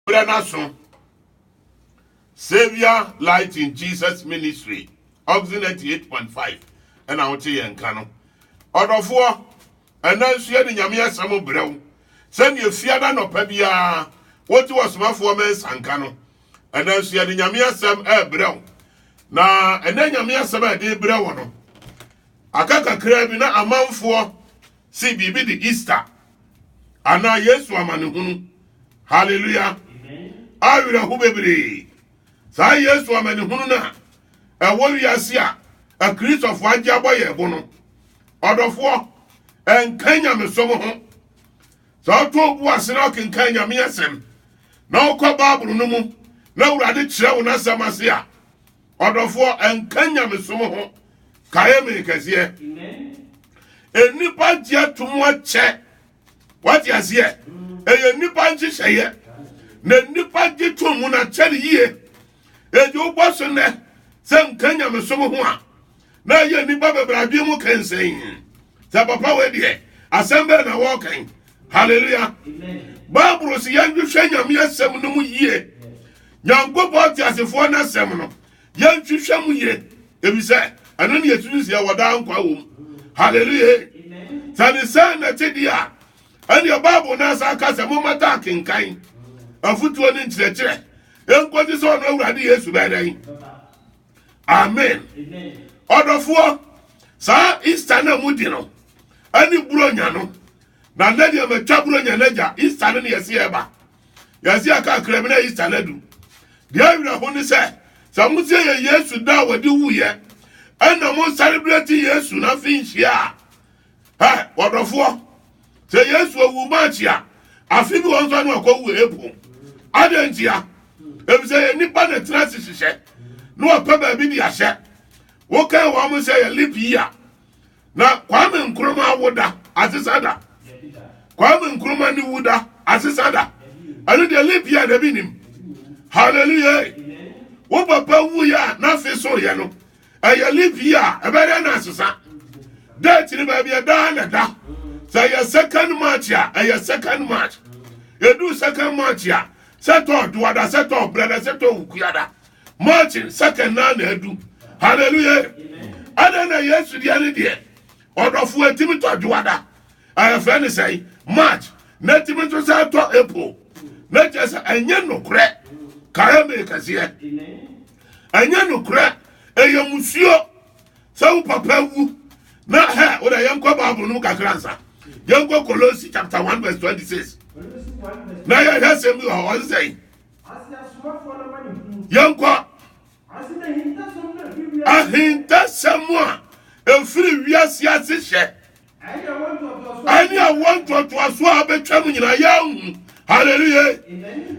Berɛ no aso. Saviour Light in Jesus Ministry, Oxen 88.5, ɛna wote yɛn nka no. Ɔdɔfoɔ, ɛna nso yɛde Nyame asɛm brɛ wo, sɛdeɛ fiada nɔpa biara wote wɔ somafoɔ mɛnsa nka no. Ɛna nso yɛde Nyame asɛm ɛbrɛ wo. Na ɛnɛ Nyame asɛm a ɛde brɛ wo no, aka kakraa bi na amanfoɔ si biribi de Easter anaa yesu amanehunu hallelujah awerɛho bebree saa yesu amanehunu no a ɛwɔ wiase a akristofo agye abɔ yɛn bo no ɔdɔfoɔ ɛnka nyamesom ho sɛ ɔtɔ obu ase na ɔkenkan nyame asɛm na ɔkɔ baabolo no mu na awurade kyerɛ wo n'asɛm ase a Ɔdɔfoɔ, ɛnka nyamesom ho kaeɛ me kɛseɛ. Nnipa gye atom akyɛ. Wate aseɛ? Ɛyɛ nnipa nhyehyɛeɛ. Na nnipa gye tom mu na kyɛ ne yie. Enti wobɔ so nnɛ sɛ nka nyamesom ho a, na ɛyɛ nnipa bebree adwene mu kɛnsɛn sɛ papa wei deɛ asɛm bɛɛ na wɔɔkɛn halleluya bible si yɛnhwehwɛ nyame asɛm no mu yie nyankopɔn teasefoɔ no asɛm no yɛnhwehwɛ mu yie ebisɛ ɛno ne yɛsusu sɛ yɛwɔ daa nkwa wɔ mu halleluya sɛ ne sɛn na ɛte deɛ a ɛneɛ bible no asa ka sɛ mommɛta akenkan afotuo ne nkyerɛkyerɛ ɛnkɔsi sɛ ɔno awurade yesu bɛdɛn amen ɔdɔfoɔ saa easter no a mu di no ɛne buronya no na nna deɛ matwa buronya no agya easter no ne yɛse yɛba yɛse aka kra bi na easter no adu deɛ awerɛ ho ne sɛ sɛ mo sɛ yɛ yesu da a wɔde wuyɛ ɛna mo sɛrebrɛte yesu no afe nhyia a Ɛ, wɔdɔfoɔ, sɛ Yesu ɔwu March a, afe bi wɔ nso ano ɔkɔ wu April. Adɛn ntia? Efisɛ yɛ nipa na tena ase hyehyɛ na wɔpɛ baabi de ahyɛ. Wokan wɔn mo sɛ yɛ leap year. Na Kwame Nkrumah wo da, asesa da. Kwame Nkrumah ne wu da, asesa da. Ɛno deɛ leap year da bi nim. Hallelujah. Wo papa wu yɛ a n'afe so yɛ no. ɛyɛ leave year a ɛbɛyɛ dɛ na ɛsesa date no baabi ɛdaa na ɛda sɛ ɛyɛ second march a ɛyɛ second march ɛduru second march a sɛtɔ doada sɛtɔ brɛda sɛtɔ wukuada march second na na ɛdu hallelujah ɛdɛ na yesu deɛ ne deɛ ɔdɔfo ɛtumi tɔ doada ɛyɛfɛ ne sɛe march na ɛtumi nso sɛ ɛtɔ april na kyerɛ sɛ ɛnyɛ nokorɛ kae me kɛseɛ Ɛnyɛ nokorɛ, ɛyɛ musuo sɛ wo papa wu na hɛ wo da yɛnkɔ bible no mu kakra nsa yɛnkɔ Kolosi chapter 1 verse 26 na yɛhwɛ sɛm bi wɔ hɔ ɔse sɛn yɛnkɔ ahintasɛm a ɛfiri wiase ase hyɛ ɛne awɔ ntoatoasoɔ a bɛtwam nyina yɛahu halleluya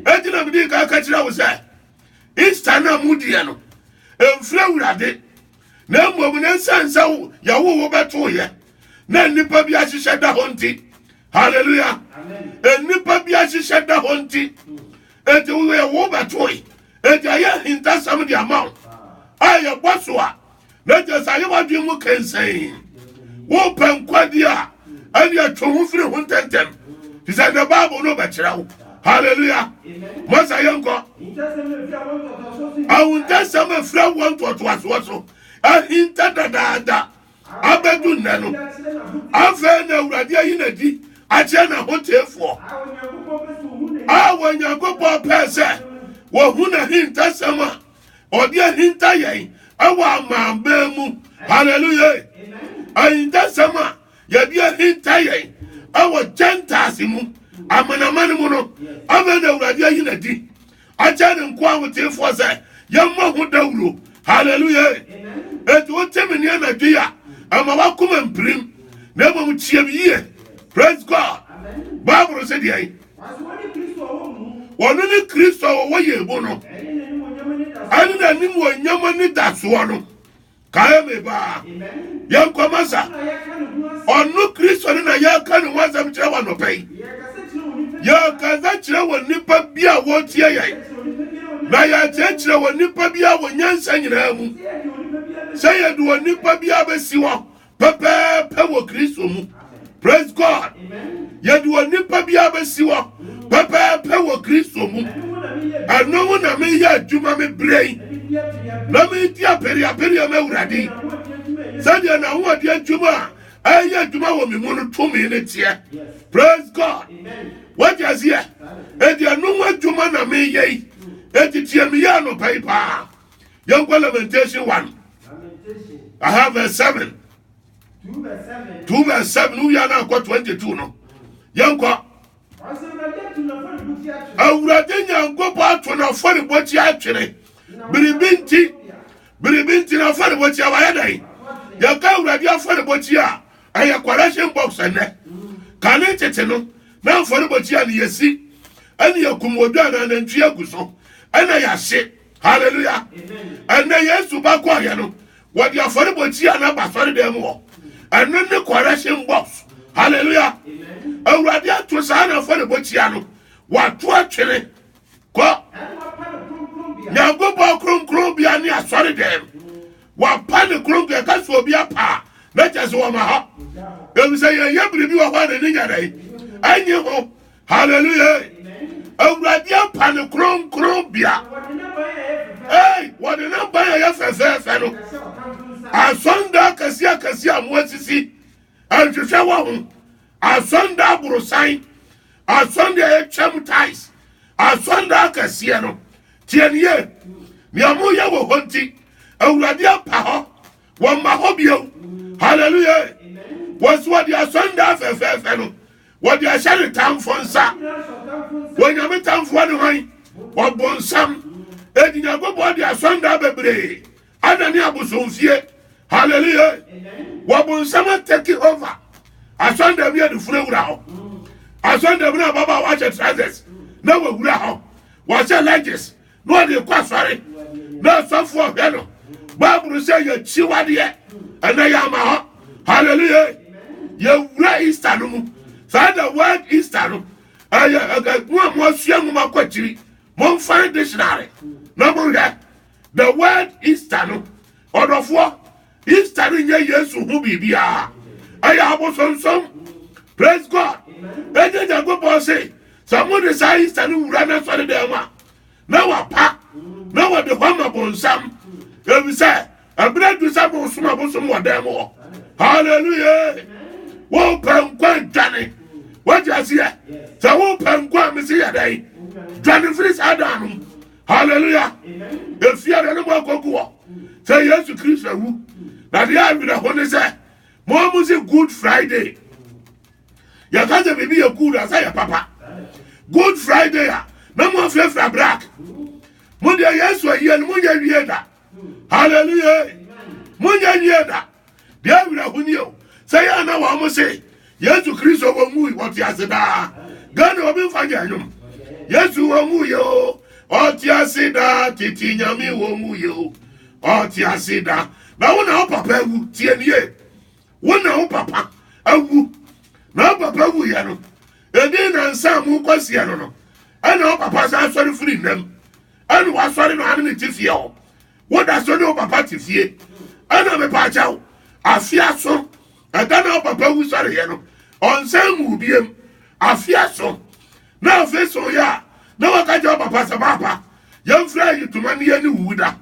ɛgyina mede ka ka kyerɛ wo sɛ easter no a modiɛ no ɛmfiri awurade na mmom no ɛsiane sɛ yɛwo wo bɛtoyɛ na nnipa bi ahyehyɛ da hɔ nti halleluya nnipa bi ahyehyɛ da hɔ nti ɛti woyɛ wo bɛtoe ɛti ɛyɛ ahintasɛm de ama wo a yɛbɔ so a na kyerɛ sɛ ayɛ w'adwene mu kɛnsɛn wopɛ nkwagye a ɛne atwe ho firi ho ntɛntɛm te sɛ nɛ bible no bɛkyerɛ wo halleluya masa yɛnkɔ ahontɛsɛm afira wɔ ntoatoasoɔ so ahinta dadaada abɛdu nnɛ no afei na awurade ayi n'adi akyerɛ n'ahoteefoɔ a wɔnyankopɔn pɛɛ sɛ wɔhu n'ahintasɛm a ɔde ahinta yɛn ɛwɔ amambɛn mu hallelujah ahintasɛm a yɛde ahinta yɛn ɛwɔ gentiles mu amanaman mu no afei na awurade ayi na di akyɛ ne nko ahotefoɔ sɛ yɛmmɔ ho dawuro hallelujah eti wote me ne anadwo yi a ɛma wakoma mpirim na mmom tie me yie praise god bible sɛ deɛ Ɔno ne Kristo a ɔwɔ yɛn mu no ɛne n'animuonyam anidasoɔ no kae me baa yɛnkɔma sa ɔno Kristo no na yɛreka ne ho asɛm kyerɛ wɔ anɔpɛ yi yɛkasa kyerɛ wɔ nnipa bi a wɔtie yɛn na yɛkyerɛkyerɛ wɔ nnipa bi a wɔ nyansa nyinaa mu sɛ yɛde wɔ nnipa bi a bɛsi hɔ pɛpɛɛpɛ wɔ kristo mu praise god yɛde wɔ nipa bi abɛsi hɔ pɛpɛɛpɛ wɔ kristo mu ɛno mu na meyɛ adwuma me berɛ yi na medi apereapereɛ ma awurade yi sɛdeɛ n'ahoɔde adwuma a ɛyɛ adwuma wɔ me mu no tumi ne teɛ praise god wagye aseɛ ɛdeɛ no ho adwuma na meyɛ yi ɛtitie meyɛ anɔpa yi paa yɛnkɔ lamentation 1 aha verse 7 2 verse 7 no wia no akɔ 22 no yɛnkɔ awurade nyankopɔn ato no afɔrebɔkyi atwene biribi nti biribi nti na afɔrebɔkyi a wayɛ dɛn yɛka awurade afɔrebɔkyi a ɛyɛ correction box ɛnɛ kane tete no na afɔrebɔkyi a ne yɛsi ɛne yɛkum odwa anaa nantwie agu so ɛna yɛahye hallelujah ɛnna yesu ba kɔɔyɛ no wɔde afɔrebɔ kyi a na ba sɔre dɛm mu hɔ ɛno ne correction box hallelujah awurade ato saa na afɔrebɔ kyia no wato atwene kɔ nyankopɔn kronkron bia ne asɔre dɛm wapa ne kronkron ɛka so obi apa na kyɛ sɛ wɔma hɔ ɛfisɛ yɛyɛ biribi wɔ hɔ a n'ani nyɛ dɛn ɛnye ho hallelujah awurade apa ne kronkron bea ei wɔde ne ban a ɛyɛ fɛfɛɛfɛ no asɔnda akɛse akɛse a mo asisi nhwehwɛ wɔ ho asɔnda aborosan asɔnda a ɛtwam tais asɔnda akɛseɛ no tiɛniyɛ nea moyɛ wɔ hɔ nti awurade apa hɔ wɔmma hɔ bio hallelujah wɔsi wɔde asɔnda fɛfɛɛfɛ no wɔde ahyɛ ne tamfo nsa wɔnyame tamfoɔ ne hwan ɔbonsam edi nyankopɔn de asɔnda bebree ana ne abosomfie hallelujah wɔbonsam atake over asɔnda bi a ne funu awura hɔ asɔnda bi na ababaawa ahyɛ trousers na wɔawura hɔ wɔahyɛ lunges na ɔde kɔ asɔre na asɔfo ɔhwɛ no bible sɛ yɛkyi wadeɛ ɛnɛ yɛ ama hɔ hallelujah yɛwura easter no mu saa na word easter no ɛyɛ ɛgɛgu a moasua mu makɔ akyiri momfa ne dictionary na monhwɛ the word easter no ɔdɔfoɔ Easter no nyɛ Yesu ho biribiara, ɛyɛ abosonsom. Praise God. Ɛnyɛ Nyankopɔn se sɛ mo de saa Easter no wura na sɔre dɛm a na wapa na wɔde hɔ ama bonsam. Efisɛ ɛbrɛ du sɛ mo som abosom wɔ dɛm hɔ. Hallelujah. Wo pɛ nkwa dwane. Wagye aseɛ. Sɛ wo pɛ nkwa a mesi yɛ dɛn? Dwane firi saa dan no. hallelujah efia na ne mu akogu hɔ sɛ yesu kristo awu na deɛ awina ho ne sɛ mo a mo se good friday yɛka sɛ biribi yɛ good asɛ yɛ papa good friday a na mo afirafira black mo deɛ yesu ayie no mo nyɛ wie da hallelujah monyɛ nwie da deɛ awerɛho ni o sɛ yɛ na wɔn mo se yesu kristo wɔn mu wɔte ase daa ghana obi nfa nyɛ nwom yesu wɔn mu yɛ o ɔte ase daa tete nyame wɔn mu yɛ o ɔte ase daa na wo na wo papa awu tie nie wo na wo papa awu na wo papa wu yɛ no ɛdin na nsa mu kɔseɛ no no ɛna wo papa san asɔre firi nnam Ɛna wasɔre maame no te fie hɔ woda so ne wo papa te fie ɛna mepa akyɛw afe aso ɛda na wo papa wu sɔreeɛ no ɔnsan mu biem afe aso na afe so yɛ a na waka kyɛ wo papa sɛ paapa yɛmfrɛ ayi toma ne yɛne wuwu da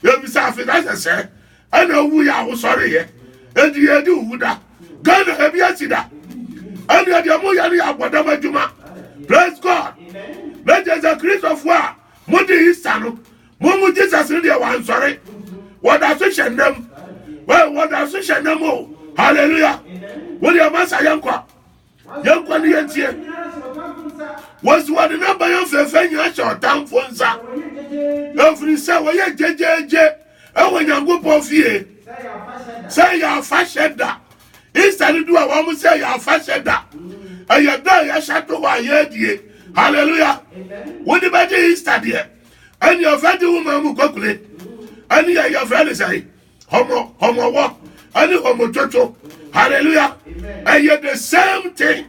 yɛbisa afe ka sɛ sɛ ɛna owu yɛ ahosɔre yɛ edi yɛ di owu da ghana ebi esi da ɛna ɛdi ɛmu yɛ no yɛ abɔdam adwuma praise god na kyerɛ sɛ kristofo a mo de isa no mo mu jesus no deɛ wansɔre wɔda so hyɛ nnam wɔda so hyɛ nnam o hallelujah wo deɛ masa yɛn kɔ. yɛnkɔ ne yɛntie wɔsi wɔde ne bayɛ fɛfɛ nyina hyɛ ɔtamfo nsa ɛfiri sɛ wɔyɛ gyegyeegye ɛwɔ nyankopɔn fie sɛ yɛ afahyɛ da easter no du a wɔn sɛ yɛ afahyɛ da ɛyɛ da a yɛhyɛ to hɔ a yɛadie hallelujah wode bɛgye easter deɛ ɛne ɛfɛ gye wo ma mu kwakule ɛne yɛ yɛfrɛ ne sɛe Homo, homowɔ, ɛne homotwotwo. Hallelujah. Ɛyɛ the same thing.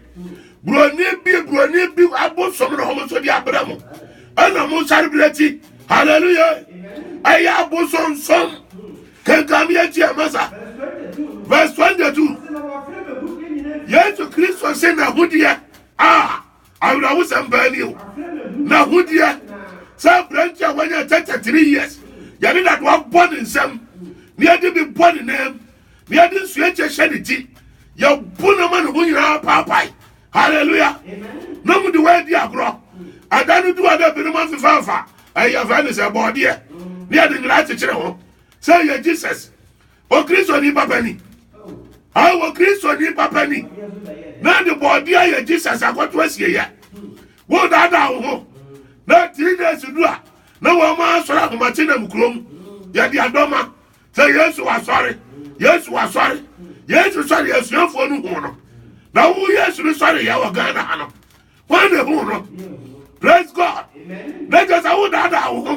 Buroni bi, buroni bi abosom na wɔn nso de abere mo. Ɛna mo nsare bere akyi. Hallelujah. Ɛyɛ abosonsom. Kankan mi akyi ɛma sa. Verse twenty two. Yesu Kristo se na ho deɛ a Awerɛhosɛm paa ni o. N'ahodeɛ sɛ aberante a wanya 33 years, yɛde dadoa bɔ ne nsam, na yɛde bi bɔ ne nan mu, na yɛde nsuakyɛ hyɛ ne ti, yɛbo no ma ne ho nyinaa paapae. Hallelujah! Na mu de wɔadi agorɔ. Ada no du a na binom afefa afa ɛyɛ fɛ ne sɛ bɔɔdeɛ, na yɛde nyina akyekyere ho sɛ ɛyɛ Jesus. wɔ kristoni papa ni a wɔ kristoni papa ni na de bɔɔde ayɛ jesus akɔto asieyɛ wo daadaa wo ho na three days du a na wɔn asɔre ahomakye nam kurom yɛde adɔma sɛ yesu wasɔre yesu wasɔre yesu sɔre asuafoɔ no hu no na wo yesu no sɔre yɛ wɔ ghana ha no wɔn na ehu no praise god na kyɛ sɛ wodaadaa wo ho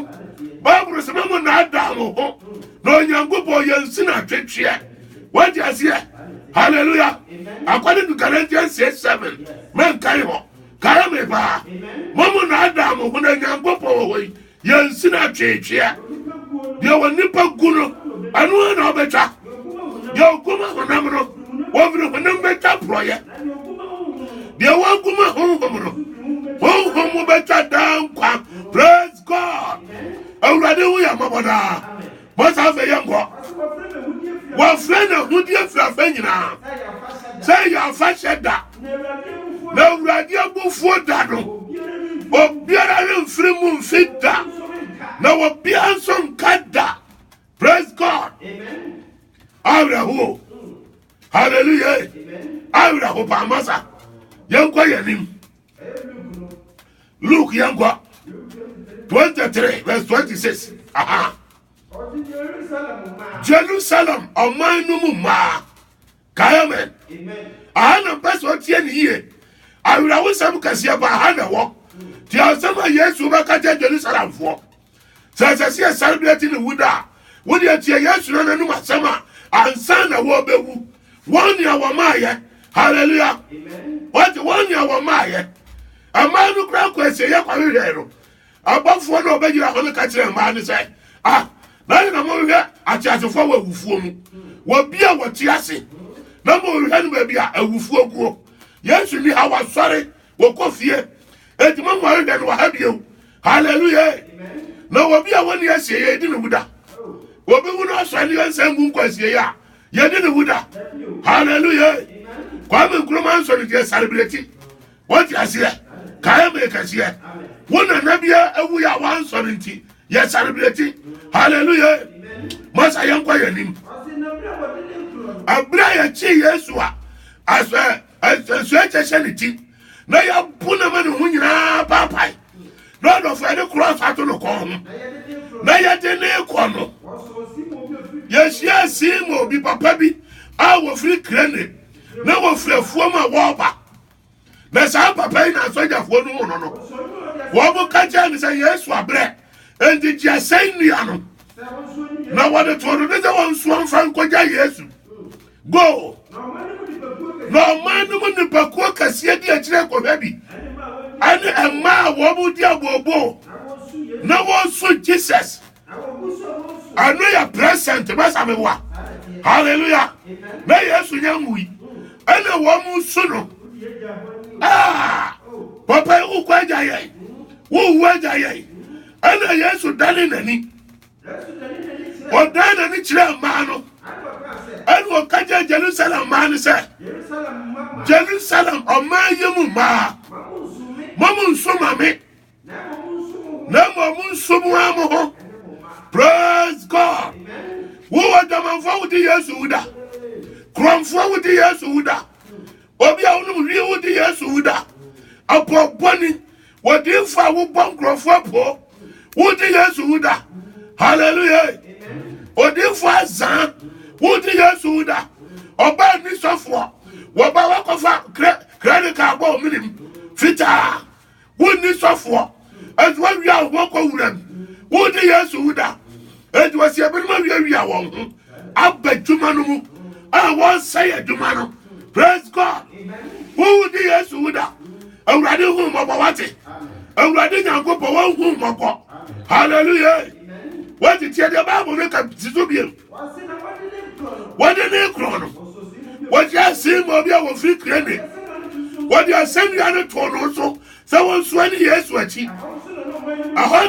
bible sɛ mɛmo naadaa mo ho na onyankopɔn yɛnsi na twetweɛ wagye aseɛ hallelujah according to galatians 6 7 mɛnkae hɔ kae me paa mɔmo naadaa mo ho na nyankopɔn wɔ hɔ yi Yɛnsi no atweetweɛ. Deɛ wɔn nipa gu no, ɛno ara na wɔbɛtwa. Deɛ ɔguma honam no, wɔfiri honam bɛtwa porɔeɛ. Deɛ wɔguma honhom no, honhom mu bɛtwa daa nkwa. Praise God! Awurade ho yɛ mmɔbɔ daa. Bɔ saa afei yɛ nkɔ. Wɔfrɛ no ahudeɛ firi afɛ nyinaa sɛ yɛ afahyɛ da na awurade abufuo da no obiara remfiri mu mfi da na obiara nso nka da praise god awerɛho hallelujah awerɛho paamasa yɛnkɔ yɛn anim Luke yɛn nkɔ twenty three verse twenty six aha. Jerusalem ɔman no mu mmaa kaemen aha na mpɛ sɛ ɔteɛ ne yie awerɛwosɛm kɛseɛ ba aha na ɛwɔ nti asɛm a Yesu bɛka kyɛ Jerusalemfoɔ Sɛ ɛsɛ sɛ yɛsan berɛ ti ne wu da a, wo deɛ tie Yesu no n'anom asɛm a ansa na wɔbɛwu. Wɔn nea wɔmaayɛ. Hallelujah. Wɔte wɔn nea wɔmaayɛ. Mmaa no kura kɔ asieyɛ kɔhwehwɛɛ no. Abɔfoɔ no ɔbɛgyina hɔ no ka kyerɛ mmaa no sɛ, ah, na yɛ na mohwehwɛ ateasefoɔ wɔ awufoɔ mu. Wɔ bi a wɔte ase na mohwehwɛ no baabi a awufoɔ guo. Yesu ni ha wasɔre wɔkɔ fie enti mo nware dɛ no wɔ ha bio hallelujah na obi a wɔnni asieɛ yɛdi ne ho da obi wu no asɔre ne yɛnsa ngu nkɔ asieɛ a yɛdi ne ho da hallelujah kwame nkuruma nso ne deɛ sareberɛti wɔte aseɛ kaeɛ me kɛseɛ wo nana bia awu yɛ a wansɔre nti yɛ sareberɛti hallelujah masa yɛnkɔ yɛnim aberɛ a yɛkyee yesu a asɛ nsuo akyɛ hyɛ ne ti na yɛabu no ma ne ho nyinaa paapae na ɔdɔfo yɛde korɔs ato no kɔn ho na yɛde ne kɔ no yɛhyia sima obi papa bi a wɔfiri krane na wɔfiri afuom a wɔreba na saa papa yi na asogyafoɔ no hu no no wɔn ka kyerɛ no sɛ yesu abrɛ enti gye asɛn nnua no na wɔde too no ne sɛ wɔnsoa mfa nkɔgya yesu go na ɔman no mu nnipakuo kɛseɛ di akyirɛ kɔhwɛ bi ɛne ɛma a wɔn di abooboo na wɔnsu jesus ɛno yɛ present bɛsa me wa hallelujah na yesu nyɛ nwui ɛna wɔn nsu no ah papa yi wokɔ agya yɛn wowu agya yɛn ɛna yesu dane n'ani ɔdan n'ani kyerɛɛ mmaa no ɛne ɔka kyerɛ jerusalem mmaa no sɛ jerusalem ɔman yi mu mmaa mɔmo nso ma me na mmom nso mu ara mo ho praise god wowɔ dwamanfoɔ wode yesu woda korɔmfoɔ wode yesu woda Obi a wonom hwii wo de Yesu wu da. Ɔpɔ bɔne. Wɔdiifo a wobɔ nkurɔfoɔ po. Wo de Yesu wu da. Hallelujah. Odiifo azaa. Wo de Yesu wu da. Ɔbaa nisɔfoɔ. Wɔba wakɔfa credit card bɔ ominim fitaa. wonni sɔfoɔ enti wɔawia wɔn ho kɔ wura mu wogye yesu wo da enti wɔsi ebinom awiawia wɔn ho aba adwuma no mu a wɔresɛe adwuma no praise god wogye yesu wo da awurade hu mmɔbɔ wate awurade nyankopɔn wɔhu mmɔbɔ hallelujah wɔte tiɛ deɛ bible no ka si so biem wɔde ne korɔn no wɔde asen ma obi a wɔfiri kirene wɔde asɛnnua no too no so sɛ wɔnsoa ne yesu akyi ɛhɔ